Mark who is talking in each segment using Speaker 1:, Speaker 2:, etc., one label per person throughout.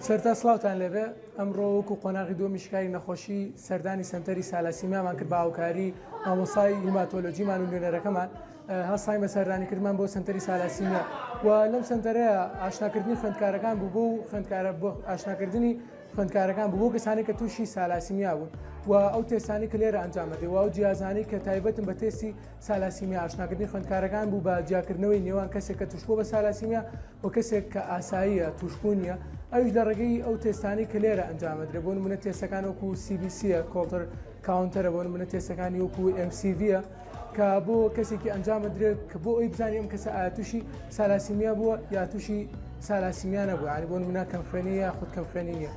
Speaker 1: سەرتا سڵاوتان لێبێ ئەمڕۆ وەکو قۆناغی دووەمی شکاری نەخۆشی سەردانی سەنتەری سالاسیمیامان کرد بە هاوکاری مامۆسای هیماتۆلۆجیمان و نوێنەرەکەمان هەستاین بە سەردانی کردمان بۆ سەنتەری سالاسیمیا و لەم سەنتەرەیە ئاشناکردنی خوێندکارەکان بوو بۆ خوێندکارە بۆ ئاشناکردنی خوێندکارەکان بوو بۆ کەسانی کە تووشی سالاسیمیا بوون و ئەو تێسانی کە لێرە ئەنجامەدەی و ئەو جیازانی کە تایبەتن بە تێستی سالاسیمیا ئاشناکردنی خوێندکارەکان بوو بە جیاکردنەوەی نێوان کەسێک کە توشبوو بە سالاسیمیا بۆ کەسێک کە ئاساییە تووشبوو نییە ئەویش لە ڕێگەی ئەو تێستانەی کە لێرە ئەنجامەدرێ بۆ نمونە تێستەکان وەکو سیبیسیە کۆڵتر کاونتەرە بۆ منە تێستەکانی وەکو MCVە کە بۆ کەسێکی ئەنجامە درێت کە بۆ ئەوی بزانیم کەسە ئاتوشی سالاسیمیا بووە یا تووشی سالاسیمیانە بوو ینی بۆ منە کەم خوێنی یا خود کەم خوێنی نیە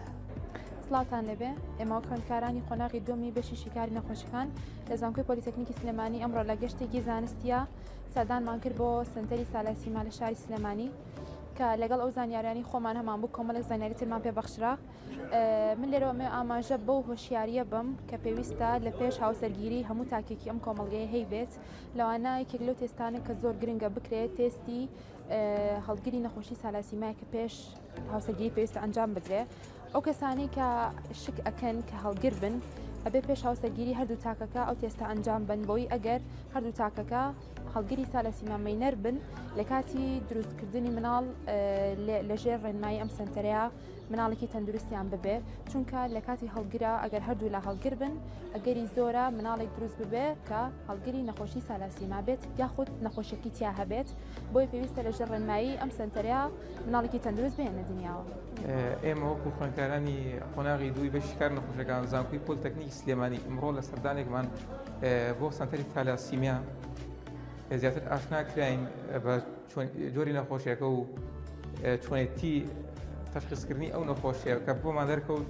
Speaker 1: سلااوان
Speaker 2: لەبێ ئێمە خوێندکارانی قۆناغی دومی بەشی شیکاری نەخۆشەکان لە زانکۆی پلیتەکنیکی سلێمانی ئەمڕۆ لە گەشتێکی زانستیە سەردانمان کرد بۆ سنتەری سالاسیما لە شاری سلێمانی کە لەگەڵ ئەو زانیاریانی خۆمان هەمان بوو کۆمەڵێک زانیاری ترمان پێ بەخشرا من لێرەوە مێ ئاماژە بەو هۆشیاریە بم کە پێویستە لە پێش هاوسەرگیری هەموو تاکێکی ئەم کۆمەڵگەیە هەی بێت لەوانە یەکێک لەو تێستانە کە زۆر گرنگە بکرێت تێستی هەڵگری نەخۆشی سالاسیمای کە پێش هاوسەرگیری پێویستە ئەنجام بدرێ ئەو کەسانەی کە شک ئەکەن کە هەڵگر بن ئەبێ پێش هاوسەرگیری هەردوو تاکەکە ئەو تێستە ئەنجام بن بۆی ئەگەر هەردوو تاکەکە هەڵگری سا لە سیمامەینەر بن لە کاتی دروستکردنی مناڵ لەژێر ڕێنمایی ئەم سنتەرەیە مناڵێکی تەندروستیان ببێ چونکە لە کاتی هەڵگرە ئەگەر هەردوو لە هەڵگر بن ئەگەری زۆرە مناڵێک دروست ببێ کە هەڵگری نەخۆشی سالاسیما بێت یاخود نەخۆشیەکی تیا هەبێت بۆیە پێویستە لەژێر ڕێنمایی ئەم سەنتەرە مناڵێکی تەندروست بێنە دنیاوە. ئێمە وەکو
Speaker 3: خوێندکارانی قۆناغی دووی بەشی کار نەخۆشەکان زانکوی پۆلتەکنیکی سلێمانی ئمڕۆ لە سەردانێکمان بۆ سەنتەری تالاسیمیا زیاتر ئاشنا کراین بە جۆری نەخۆشیەکە و چۆنێتی تەشخیصکردنی ئەو نەخۆشیەکە بۆمان دەرکەوت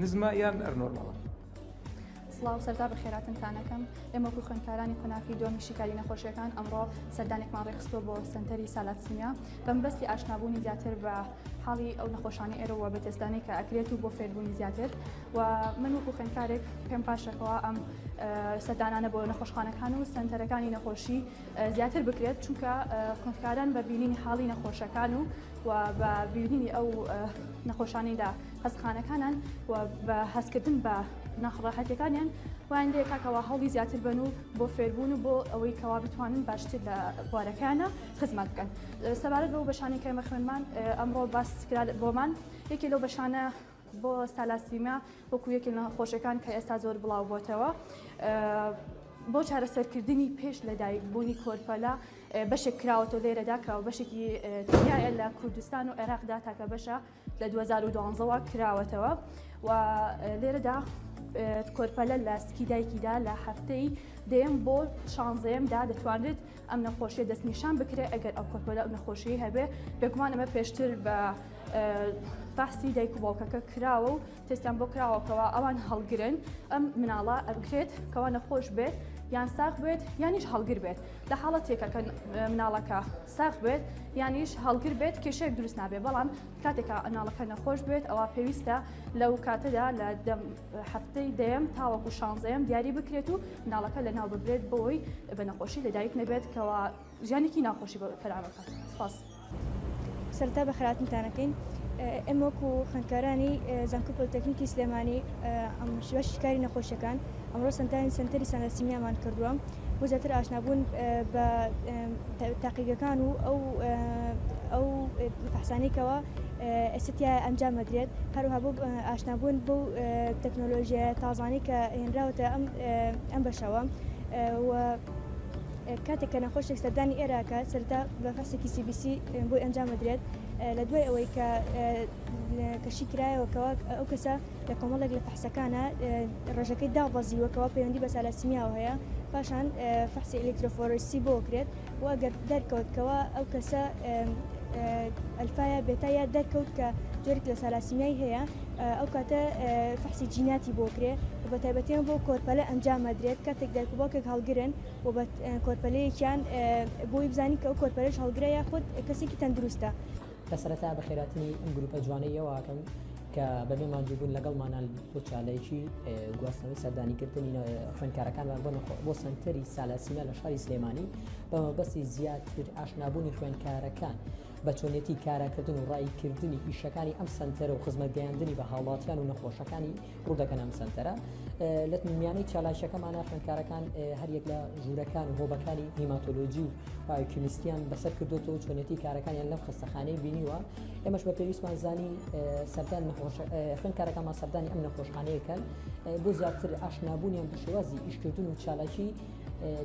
Speaker 3: نزمە یان ئەرنۆرماڵە؟
Speaker 4: سڵاو سەرتا بەخێراتنتانەکەم ئێمەکو خوێنکارانی قۆناخی دۆمی شیکاری نەخۆشیەکان ئەمڕۆ سەردانێکمان ڕێخستۆ بۆ سنتەری سالاتسنیا بەمبەستی ئاشنابوونی زیاتر بە حاڵی ئەو نەخۆشانی ئێرەوە بە تێستانی کە ئەکرێت و بۆ فێربوونی زیاتر و من وەکو خوێنکارێک پێم پاشەکەەوە ئەم سەردانانە بۆ نەخۆشخانەکان و سنتەرەکانی نەخۆشی زیاتر بکرێت چونکە خوێنکاران بە بینینی حاڵی نەخۆشەکان و و بە بینینی ئەو نەخۆشانیدا هەستخانەکانان و بە هەستکردن بە ناخڕاحەتەکانیان وایان لێ کاکەوە هەڵی زیاتر بن و بۆ فێربوون و بۆ ئەوەی کەوا بتوانن باشتر لە بوارەکانە خزمەت بکەن سەبارەت بەو بەشانی کەمە خوێنمان ئەمڕۆ باس کرا بۆمان یەکێ لەو بەشانە بۆ سالاسیما وەکو یەکێ لە خۆشەکان کە ئێستا زۆر بڵاو بۆتەوە بۆ چارەسەرکردنی پێش لەدایک بوونی کۆرپەلا بەشێک کراوەەوە لێرەدا کە بەشێکی تایە لە کوردستان و عێراقدا تاکە بەشە لە دوو هەزار و دوازدە وە کراوەتەوە و لێرەدا کۆرپەلە لە سکی دایکیدا لە هەفتەی دەیەم بۆ شانزەیەمدا دەتوانێت ئەم نەخۆشیە دەستنیشان بکرێت ئەگەر ئەو کۆرپەلە ئەو نەخۆشی هەبێ بێگومان ئەمە پێشتر بە فاسی دایک و باوکەکە کراوە و تێستیان بۆ کراوە کەوا ئەوان هەڵگرن ئەم مناڵە ئەبکرێت کەوا نەخۆش بێت یان ساخ بێت یانیش هەڵگر بێت لە حاڵە تێکەکە مناڵەکە ساخ بێت یانیش هەڵگر بێت کێشێک دروست نابێت بەڵام کاتێکا ئەناڵەکە نەخۆش بێت ئەوە پێویستە لەو کاتەدا لە هەفتەی دەیەم تاوەکو شانزەیەم دیاری بکرێت و مناڵەکە لە ناو ببرێت بۆی بە نەخۆشی لەدایک نەبێت کەەوە ژیانێکی ناخۆشی بۆ فراوان بکات. سپاس.
Speaker 5: سەرەتا بە خەراتنتانەکەین ئێمە وەکو خوێندکارانی زانکۆی پۆلیتەکنیکی سلێمانی ئەم شوێشی کاری نەخۆشیەکان ئەمڕۆ سەنتانی سنتەری سەنەسیمیامان کردووە بۆ زیاتر ئاشنابوون بە تاقیگەکان و ئەو ئەو فەحسانێکەوە ئەسیتیا ئەنجام مەدرێت هەروها بۆ ئاشنابوون بۆ تەکنۆلۆژیای تازانی کە هێنراوەتە ئەم ئەم بەشەوە و کاتێک کە نەخۆشێک سەردانی ئێرە ئەکات سەرەتا بە فەحسێکی سی بی سی بۆی ئەنجام ئەدرێت لە دوای ئەوەی کە کەشی کرایەوە کەوا ئەو کەسە لە کۆمەڵێک لە فەحسەکانە ڕێژەکەی دابەزیوە کەوا پەیوەندی بە سالاسیمیاوە هەیە پاشان فەحسی ئەلکترۆفۆرسی بۆ کرێت و ئەگەر دەرکەوت کەوا ئەو کەسە ئەلفایا بێتا یا دەرکەوت کە جۆرێک لە سالاسیمیای هەیە ئەو کاتە فەحسی جیناتی بۆ کرێ و بە تایبەتیان بۆ کۆرپەلە ئەنجامە درێت کاتێک دایک و باوکێک هەڵگرن و بە کۆرپەلەیەکیان بۆی بزانین کە ئەو کۆرپەلەش هەڵگرە یاخود کەسێکی تەندروستە. کە سەرەتا
Speaker 6: بە خێراتنی ئەم گروپە جوانەی یەواکەم کە بەبێ ماندووبوون لەگەڵمانا بۆ چالێکی گواستنەوەی سەردانیکردنی خوێنکارەکانمان بۆ نەخۆ بۆ سنتەری سالاسینا لە شاری سلێمانی بەمەبەستی زیاتر ئاشنابوونی خوێنکارەکان بە چۆنێتی کاراکردن و ڕایکردنی ئیشەکانی ئەم سنتەرە و خزمەت گەیاندنی بە هاوڵاتیان و نەخۆشەکانی ڕوودەکەن ئەم سەنتەرە لە میانەی چالاکیەکەمانە خوێندکارەکان هەریەک لە ژوورەکان و هۆبەکانی هیماتۆلۆژی و پایکیمیستیان بەسەر کردوەوە چۆنێتی کارەکانیان لەم خستەخانەی بینیوە ئێمەش بە پێویستمان زانی سەردان خوێندکارەکەمان سەردانی ئەم نەخۆشخانەیەکەن بۆ زیاتر ئاشنابوونیان بە شێوازی ئیشکردن و چالاکی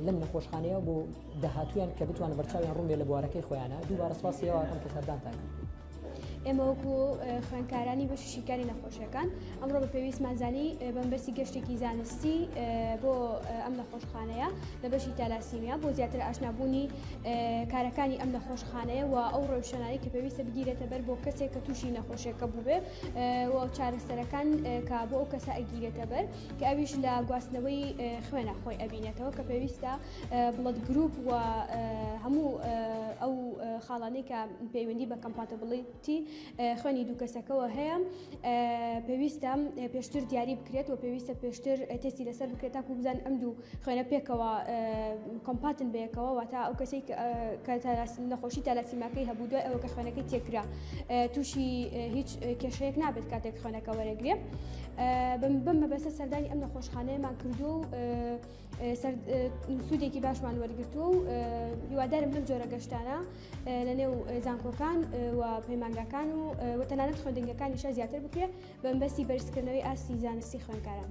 Speaker 6: لەم نەخۆشخانەیە بۆ داهاتویان کە بتوان بەرچاویان ڕووێ لە بوارەکەی خۆیانە دووبارە سپاسیەوەکەم کە سەردانتان کرد. ئێمە وەکو
Speaker 7: خوێنکارانی بەشی شیکاری نەخۆشیەکان ئەمڕۆ بە پێویستمانزانی بەمبەستی گەشتێکی زانستی بۆ ئەم نەخۆشخانەیە لە بەشی تالاسیمیا بۆ زیاتر ئاشنابوونی کارەکانی ئەم نەخۆشخانەیە و ئەو ڕۆشنایی کە پێویستە بگیرێتە بەر بۆ کەسێک کە تووشی نەخۆشیەکە بووێ و چارەسەرەکان کە بۆ ئەو کەسە ئەگیرێتە بەر کە ئەویش لە گواستنەوەی خوێنە خۆی ئەبینێتەوە کە پێویستە بڵەد گروپ و هەموو ئەو خاڵانەی کە پەیوەندی بە کەمپاتەبڵیتی خوێنی دوو کەسەکەەوە هەیە پێویستە پێشتر دیاری بکرێت و پێویستە پێشتر تستی لەسەر بکرێت تاکو بزان ئەم دوو خوێنە پێکەوە کۆمپاتن بەیەکەوە واتە ئەو کەسی کە نەخۆشی تالاسیماکەی هەبوو دوای ئەوە کە خوێنەکەی تێکرا تووشی هیچ کێشەیەک نابێت کاتێک خوێنەکە وەرەگرێ بم بەسە سەردانی ئەم نەخۆشخانەیەمان کردو و سوودێکی باشمان وەرگتووە و هیوادارم لەم جۆرە گەشتانە لە نێو زانکۆکان و پەیمانگاکان و وەتەنانەت خوێندنگەکانیشە زیاتر بکرێت بەمبەستی بەرزکردنەوەی ئاستی زانستی خوێندکاران.